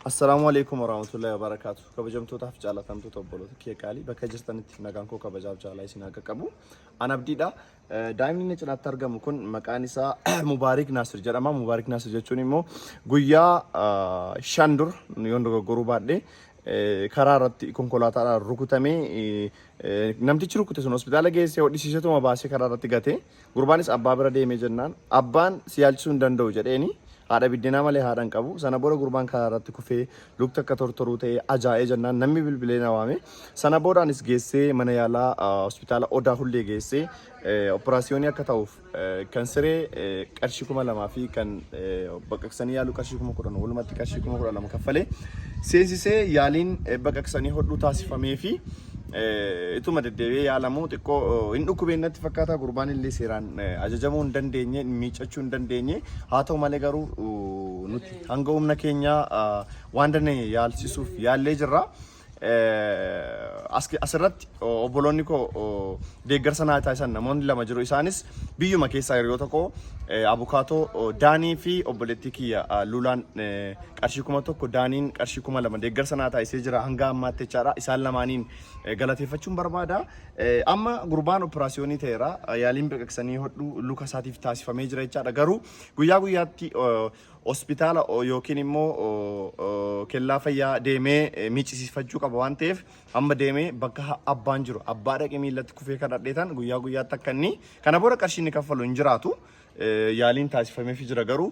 Assalaamu alaikum warahmatullahi wabarakatuh. Kabajamtootaaf jaalatamtoota obboloota kiyya qaalii bakka jirtanitti nagaan koo kabajaaf jaalaa isin akka qabu. An abdiidha. Daa'imni inni cinaatti argamu kun maqaan isaa Mubaarik Naasir jedhama. Mubaarik Naasir jechuun immoo guyyaa shan dur yoon dogoggoruu baadhee karaa irratti konkolaataadhaan rukutamee namtichi rukute sun hospitaala geessee hodhisiisetuma baasee karaa irratti gatee Gurbaanis abbaa bira deemee jennaan abbaan si yaalchisuu hin danda'u jedheeni haadha biddeenaa malee haadha hin qabu. Sana booda gurbaan karaa irratti kufee lukti akka tortoruu ta'ee ajaa'ee jennaan namni bilbilee na waame. Sana booda anis geessee mana yaalaa ah, hospitaala Odaa Hullee geessee eh, operaasiyoonii akka ta'uuf eh, kan siree eh, qarshii kuma lamaa fi kan eh, baqaqsanii yaaluu qarshii kuma kudhan walumatti qarshii kuma kudha lama kaffalee seensisee yaaliin eh, baqaqsanii hodhuu taasifamee fi Ituma deddeebi'ee yaalamu xiqqoo hin dhukkubeen natti fakkaata gurbaan illee seeraan ajajamuu hin dandeenye miiccachuu hin dandeenye haa ta'u malee garuu nuti hanga humna keenyaa waan dandeenye yaalsisuuf yaallee jirra. Asirratti obboloonni koo deeggarsa naa taasisan namoonni lama jiru isaanis biyyuma keessaa hiriyoota koo abukaatoo daanii fi obboleettii kiyya luulaan qarshii 1000 Daaniin qarshii 2000 deeggarsa naa taasisee jira hanga ammaatti jechaadha. Isaan lamaaniin eh, galateeffachuun barbaada. Eh, Amma gurbaan operaasiyoonii ta'eera. Eh, Yaaliin baqaqsanii hodhuu luka isaatiif taasifamee jira jechaadha. Garuu guyyaa guyyaatti eh, hospitaala oh, yookiin immoo oh, oh, kellaa fayyaa deemee eh, miicisiifachuu qaba waan ta'eef amma deemee bakka ha- abbaan jiru abbaa dhaqee miillatti kufee kan dhadheetan guyyaa guyyaatti akka inni kana booda qarshiin inni kaffalu hin jiraatu. Eh, yaaliin taasifameefi jira garuu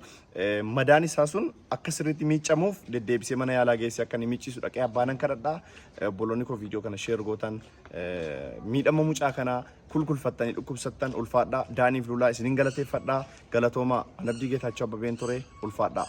Madaan isaa sun akka sirriitti miiccamuuf deddeebisee mana yaalaa geessee akka inni miiccisu dhaqee abbaanan kadhadha. Obboloonni koo viidiyoo kana sheer gootan miidhama mucaa kanaa kulkulfattanii dhukkubsattan ulfaadhaa. Daaniif Luulaa isinin galateeffadhaa. Galatoomaa Anabdii Geetaachoo Abbabeen ture ulfaadhaa.